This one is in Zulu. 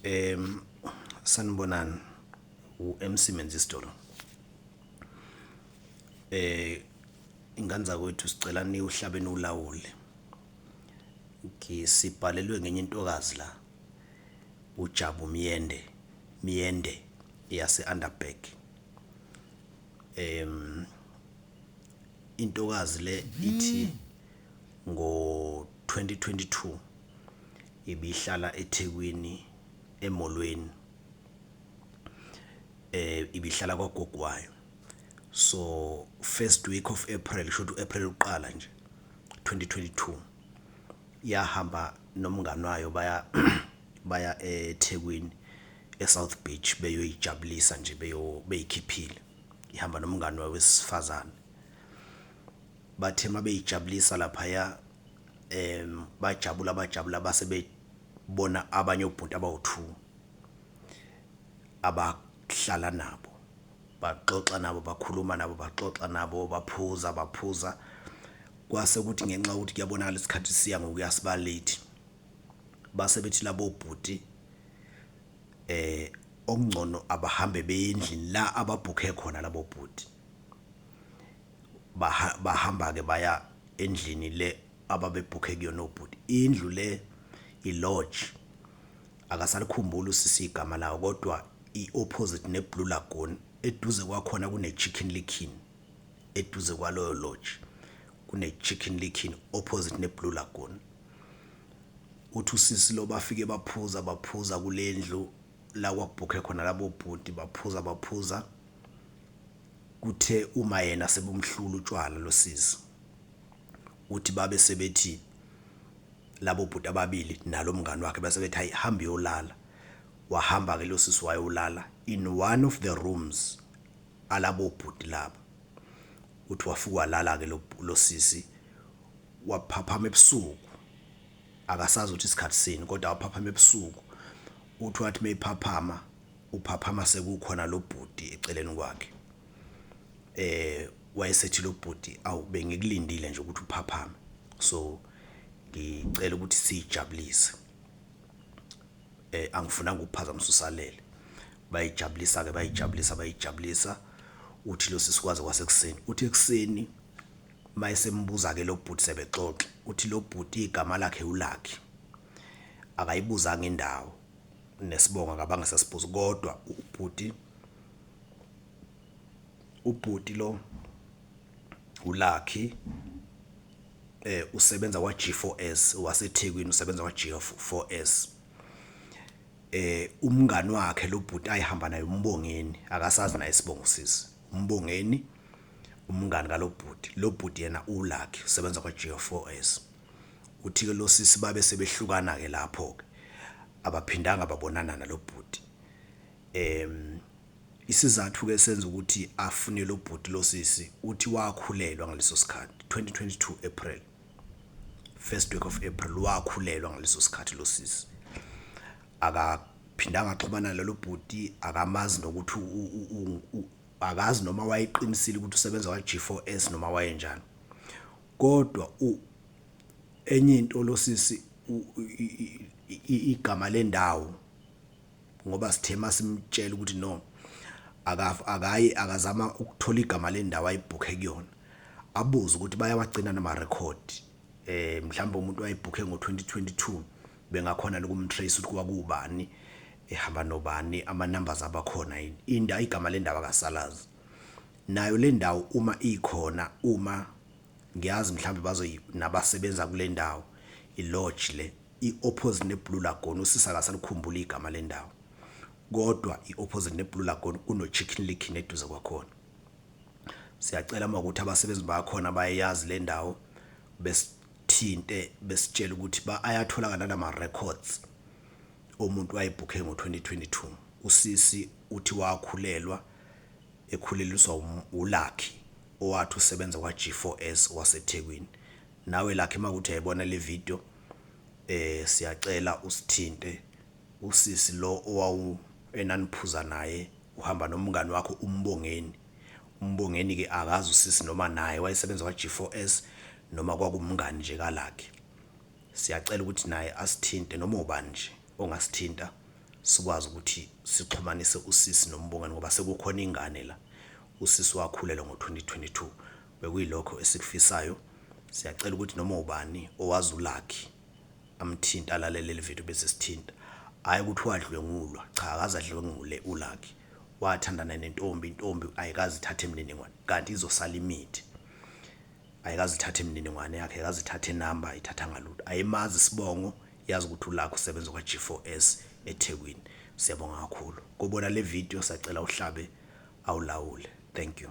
Um sanibonani u-MC Menzisdoro. Eh ingane zakwethu sicela niwuhlabe niwulawule. Ngisibhalelwe ngenye intokazi la uJabu Myende Myende yase Underberg. Um intokazi le ithi ngo 2022 Ibihlala eThekwini eMolweni ibihlala kwagogo wayo. So first week of April shuthi u-April uqala nje 2022 yahamba nomngani wayo baya baya eThekwini eSouth Beach beyoyijabulisa nje beyo beyikhiphile. Ihamba nomngani wayo wesifazane. Bathe mabeyijabulisa laphaya um bajabula bajabula base bebona abanye obhuti abawu-two abahlala nabo baxoxa nabo bakhuluma nabo baxoxa nabo baphuza baphuza kwase kuthi ngenxa yokuthi kuyabonakala isikhathi siya ngokuya siba late base bethi labo bhuti eh okungcono abahambe beye endlini la ababhukhe khona labo bhuti. Baha, bahamba-ke baya endlini le ababebhukhe kuyona obhuti. Indlu le i-lodge. Akasalikhumbuli usisi igama lawo kodwa i-opposite ne-Blue Lagoon. Eduze kwakhona kune-Chicken Licken. Eduze kwaloyo lodge kune-Chicken Licken opposite ne-Blue Lagoon. Uthi usisi lo bafike baphuza baphuza kule ndlu la kwakubhukhe khona labo bhuti baphuza baphuza Kuthe uma yena sebumhlula utshwala losisi uthi babe sebethi labo bhuti ababili nalo mngani wakhe base bethi hayi hamba uyolala wahamba ke losisi wayolala in one of the rooms alabo bhuti laba uthi wafika walala ke losisi waphaphama ebusuku akasazi ukuthi isikhathi sini kodwa waphaphama ebusuku uthi wathi mayiphaphama Uphaphama sekukhona lo bhuti eceleni kwakhe. Eh wayesethi lo bhuti awu bengikulindile nje ukuthi uphaphame. So ngicela ukuthi sijabulise. Eh angifunanga ukuphazamisa usalele. Bayijabulisa ke bayijabulisa bayijabulisa uthi lo sisi kwaze kwasekuseni. Uthi ekuseni mayesembuza ke lo bhuti sebexoxa uthi lo bhuti igama lakhe uLucky. Akayibuzanga indawo nesibongo akabange sasibuza kodwa ubhuti ubhuti lo uLucky eh usebenza kwa G4S waseThekwini usebenza kwa G4S eh umngani wakhe lo bhuti ayihamba naye umbongeni akasazi naye isibongo sisi umbongeni umngani kalobhuti lobhuti yena uLucky usebenza kwa G4S Uthike losisi babe sebehlukana ke lapho ke abaphindanga babonana nalobhuti em isizathu ke senza ukuthi afune lobhuti losisi uthi wakhulelwa ngaleso sikhathi 2022 April first week of April wakhulelwa ngaleso sikhathi losisi akaphindanga axhumana nalobhuti akamazi nokuthi akazi noma wayeqinisile ukuthi usebenza kwa G4S noma wayenjani Kodwa u enye into losisi igama lendawo ngoba sithe masimtshela ukuthi no akayi akazama ukuthola igama lendawo ayibhukhe kuyona abuze ukuthi bayawagcina nama record eh mhlawumbe umuntu wayebhukhe ngo-2022 bengakhona lokumtrace ukuthi kwakubani ehamba nobani ama numbers abakhona yini inda igama lendawo akasalazi nayo lendawo uma ikhona uma ngiyazi mhlawumbe bazoyi nabasebenza kule ndawo i-lodge le i-opposite ne-Blue Lagoon usisi akasalikhumbuli igama lendawo kodwa i-opposite ne-Blue Lagoon kuno-Chicken Lick neduze kwakhona siyacela uma ukuthi abasebenzi bakhona bayayazi le ndawo besithinte besitshela ukuthi ba ayatholakala nama records omuntu wayebhukhe ngo-2022 usisi uthi wakhulelwa ekhuleliswa wuLucky owathi usebenza kwa-G4S waseThekwini. Nawe Lucky makuthi uyayibona le video siyacela usithinte usisi lo owawu enaniphuza naye uhamba nomngani wakho uMbongeni. UMbongeni ke akazi usisi noma naye wayesebenza kwa-G4S noma kwakumngani nje kaLucky. Siyacela ukuthi naye asithinte noma ubani nje. ongasithinta sikwazi ukuthi sixhumanise usisi noMbongani ngoba sekukhona ingane la, usisi wakhulelwa ngo-2022. Bekuyilokho esikufisayo, siyacela ukuthi noma ubani owazi uLucky amthinte alalele leli video bese esithinta. Hhayi ukuthi wadlwengulwa, cha akaze adlwengule uLucky, wathandana nentombi, intombi ayikaze ithathe imininingwane kanti izosala imithi. Ayikaze ithathe imininingwane yakhe, ayikaze ithathe inamba, ayithathanga lutho, ayimazi isibongo, Yazi ukuthi ulakho usebenza kwa G4S eThekwini. Siyabonga kakhulu. Kobona le video sacela uhlabe awulawule. Thank you.